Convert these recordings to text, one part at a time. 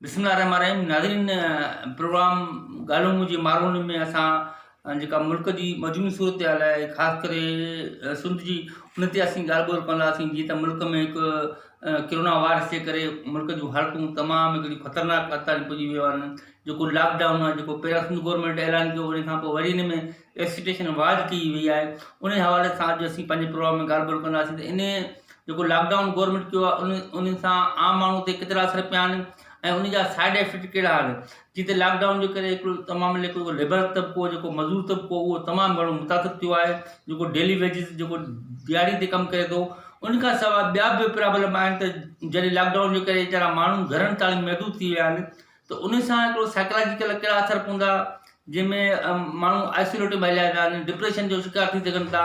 بسم الله الرحمٰن الرحيم ناظرين پروگرام ڳالهيون منهنجي ماروني ۾ اسان جيڪا ملڪ جي مجموعي صورتحال آهي خاص ڪري سنڌ جي ان تي اسين ڳالهه ٻولهه ڪنداسين جيئن ته ملڪ ۾ هڪ ڪرونا وائرس جي ڪري ملڪ جون حالتون تمام هڪڙي خطرناڪ حد تائين پڄي ويو آهن جيڪو لاڪ ڊائون آهي جيڪو پهريان سنڌ گورنمينٽ اعلان ڪيو ان کان پوء وري ان ۾ ايسوسيئيشن واض ڪئي وئي آهي انهي حوالي سان اڄ اسين پنهنجي پروگرام ۾ ڳالهه ٻولهه ڪنداسين ته انهي جيڪو لاڪ ڊائون گورمينٽ ڪيو آهي انهي انهي سان عام ماڻهو تي ڪيترا اثر پيا آهن ۽ انهي جا سائيڊ افيڪٽ ڪهڙا آهن جي ته لاڪ ڊائون جي ڪري هڪڙو تمام ليڪل ليبر طبقو جيڪو مزور طبقو اهو تمام گهڻو متاثر ٿيو آهي جيڪو ڊيلي ويجز جيڪو ڏهاڙي تي ڪم ڪري ٿو انهي کان سواء ٻيا به پرابلم آهن ته جڏهن لاڪ ڊائون جي ڪري ويچارا ماڻهو گهرن تائين محدود ٿي ويا آهن ته ان سان هڪڙو سائيڪلاجيڪل ڪهڙا اثر پوندا جنهن ۾ ماڻهو آئسوليٽ ۾ هليا ويا آهن ڊپريشن جو شڪار ٿي سگهن ٿا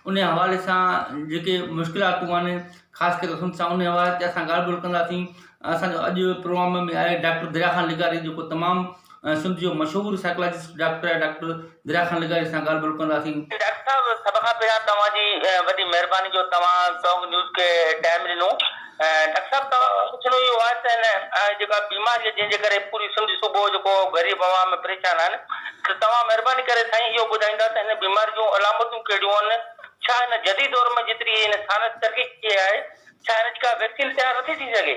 ان جي حوالي سان جيڪي مشڪلاتون آهن خاص ڪري ان سان ان جي حوالي تي اسان ڳالهه ٻولهه ڪنداسين اسانجو اڄ جو پروگرام ۾ آهي ڊاڪٽر دريا خان لغاري جيڪو تمام سنڌ جو مشهور سائيڪلاجسٽ ڊاڪٽر آهي ڊاڪٽر گرا خان لغاري سان ڳالهه ٻولهه ڪنداسين. ڊاڪٽر صاحب سڀ کان پهريان توهان جي وڏي مهرباني جو توهان ٽانڪ نيوز کي ٽائيم ڏنو ڊاڪٽر صاحب توهان کان پڇڻو اهو آهي ته هن جيڪا بيماري جنهن جي ڪري پوري سنڌ صوبو جيڪو غريب عوام پريشان آهن ته توهان مهرباني ڪري سائين اهو ٻڌائيندا ته هن بيماري جون علامتون ڪهڙيون آهن ڇا هن جديد دور ۾ جيتري هن سائنس ترقي ڪئي آهي ڇا هن جي ڪا ويڪسين تيار نٿي ٿي سگهي.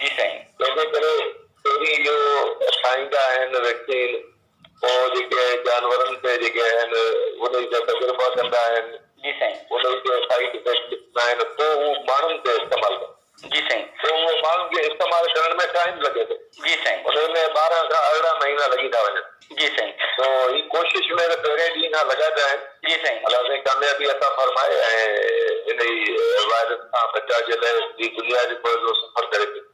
جي سائين تنهنجي ڪري پهرين اهو ٺاهيندا آهن ويڪسين پوء جيڪي جانورن تي جيڪي آهن انهي جا تجربا ڪندا آهن جي سائين انهي جي سائيڊ افيڪٽ ڏسندا آهن پوء هو ماڻهن تي استعمال ڪندا آهن جي سائين پوء اهو ماڻهن کي استعمال ڪرڻ ۾ ٽائيم لڳي ٿو جي سائين انهي ۾ ٻارهن کان ارڙهن مهينا لڳي ٿا وڃن. جي سائين هي ڪوشش مير پهرين ڏينهن کان لڳا پيا آهن. جي سائين. الله سائين ڪاميابي عطا فرمائي ۽ هن هي وائرس کان بچاء جي لاء هي دنيا جو پوء جو سفر ڪري پيو.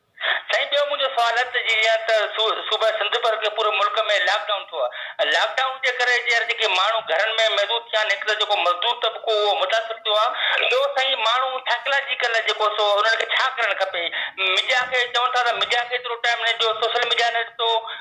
سائين ٻيو منهنجو سوال هت جي جيئن ته صوبه سنڌ بلڪه پوري ملڪ ۾ لاڪ ڊائون ٿيو آهي ۽ لاڪ ڊائون جي ڪري جيئر جيڪي ماڻهو گهرن ۾ محدود ٿيا آهن هڪ ته جيڪو مزدور طبقو اهو متاثر ٿيو آهي ٻيو سائين ماڻهو سائڪلاجيڪل جيڪو سو انهن کي ڇا ڪرڻ کپي ميڊيا کي چون ٿا ته ميڊيا کي ايترو ٽائيم نه ڏيو سوشل ميڊيا نه ڏتو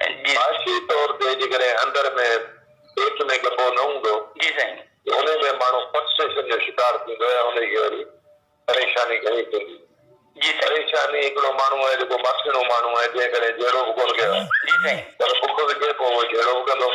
معاشي طور تي جيڪڏهن اندر ۾ پيٽ ۾ ڳڀو نه هوندو ته انهي ۾ ماڻهو فرسٽريشن جو شڪار ٿيندو ۽ انهي کي وري پريشاني گهڻي ٿيندي. پريشاني هڪڙو ماڻهو آهي جيڪو ماٺيڻو ماڻهو آهي جنهن ڪڏهن جهيڙو به ڪونه ڪيو آهي پر بک وجهي پوء اهو جهيڙو به ڪندو.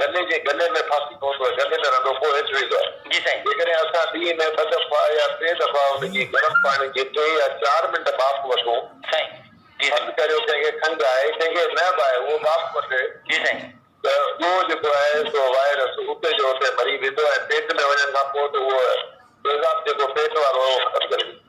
گلي جي گلي ۾ ڦاسي پوندو آهي، گلي ۾ رنڊو پوء هيٺ ويندو آهي. جي سائين. جيڪڏهن اسان ڏينهن ۾ ٻه دفعا يا ٽي دفعا ان جي گرم پاڻي جي ٽي يا چار منٽ ٻاڦ وٺون. سائين. جي سائين. فرض ڪريو ڪنهن کي کنگهه آهي، ڪنهن کي نه به آهي، اهو ٻاڦ وٺي. جي سائين. ته اهو جيڪو آهي سو وائرس اتي جو اتي مري ويندو ۽ پيٽ ۾ وڃڻ کان پوء ته اهو تيزاب جيڪو پيٽ وارو آهي اهو ختم ڪري ڏيندو.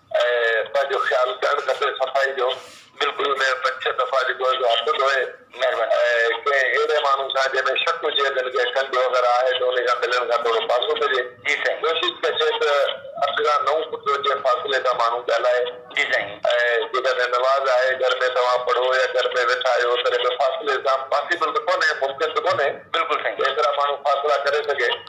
۽ پنهنجو خيال ڪرڻ کپي صفائي جو بلڪل ان جا پنج ڇهه دفعا جيڪو آهي سو هٿ ڌوئي ۽ ڪنهن اهڙي ماڻهو سان جنهن ۾ شڪ هجي اگر ڪنهن کنڊ وغيره آهي ته انهي سان ملڻ کان ٿورو پاسو ڪجي ڪوشش ڪجي ته اٺ کان نو فوٽ جي فاصلي تان ماڻهو ڳالهائي ۽ جيڪڏهن نماز آهي گهر ۾ توهان پڙهو يا گهر ۾ ويٺا آهيو تڏهن به فاصلي سان پاسيبل ته ڪونهي ممڪن ته ڪونهي ايترا ماڻهو فاصلا ڪري سگهي.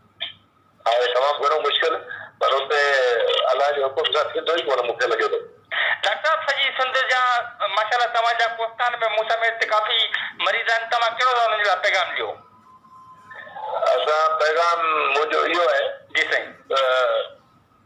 آهي تمام گهڻو مشڪل پر اتي الله جي حڪم سان ٿيندو ئي ڪونه مون کي لڳي ٿو. ڊاڪٽر صاحب سڄي سنڌ جا ماشاءالله توهان جا ڪوستان ۾ مون سميت ته ڪافي مريض آهن توهان ڪهڙو ٿا انهن جي لاء پيغام ڏيو. اسان پيغام منهنجو اهو آهي. جي سائين. ته.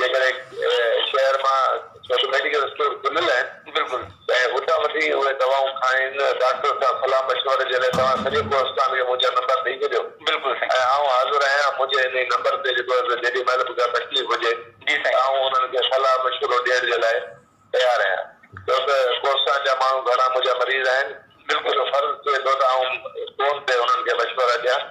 جيڪڏهن شهر مان ڪجهه ميڊيڪل اسٽور کليل آهن بلڪل ته اتان وٺي اهي دوائون کائين ڊاڪٽر سان صلاح مشوري جي لاء توهان سڄي ڪوهستان کي منهنجا نمبر ڏئي ڇڏيو بلڪل سائين ۽ آئون حاضر آهيان منهنجي انهي نمبر تي جيڪو آهي جيڏي مهل به ڪا تڪليف هجي جي سائين آئون انهن کي صلاح مشورو ڏيڻ جي لاء تيار آهيان ڇو ته ڪوهستان جا ماڻهو گهڻا منهنجا مريض آهن بلڪل منهنجو فرض ٿئي ٿو ته آئون فون تي انهن کي مشورا ڏيان.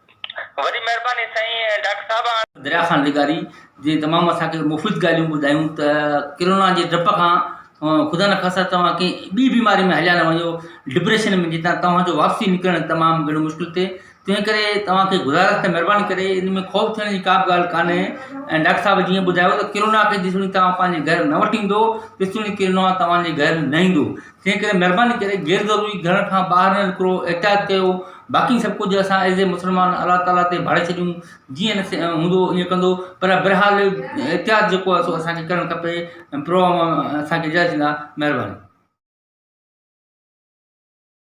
وڏي مهرباني سائين ڊاڪٽر صاحب. دريا خان لغاري جنهن تمام اسان کي مفيد ڳالهيون ٻڌايون ته ڪرونا جي ڊپ کان خدا نخواسته توهان ڪنهن ٻي بيماري ۾ هليا نه وڃو ڊپريشن ۾ جتان توهان جو واپسي نڪرڻ تمام گهڻو مشڪل ٿئي تنهن ڪري توهان کي گذارش ته مهرباني ڪري ان ۾ خوف ٿيڻ جي ڪا به ڳالهه ڪانهي ۽ ڊاڪٽر صاحب جيئن ٻڌايو ته ڪرونا کي جيسيتوڻي توهان پنهنجي گهر نه وٺي ايندو تيسيتوڻي ڪرونا توهان جي گهر نه ايندو تنهن ڪري مهرباني ڪري غير ضروري گهر کان ٻاهر نه نڪرو احتياط ڪيو باقي سڀ ڪجهه اسان ايز اي مسلمان الله تعالي تي ڀاڙي ڇڏيون جيئن نصيب هوندو ايئن ڪندو پر بهرحال احتياط جيڪو آهي سو اسان کي ڪرڻ کپي پروگرام اسان کي اجازت ڏيندا مهرباني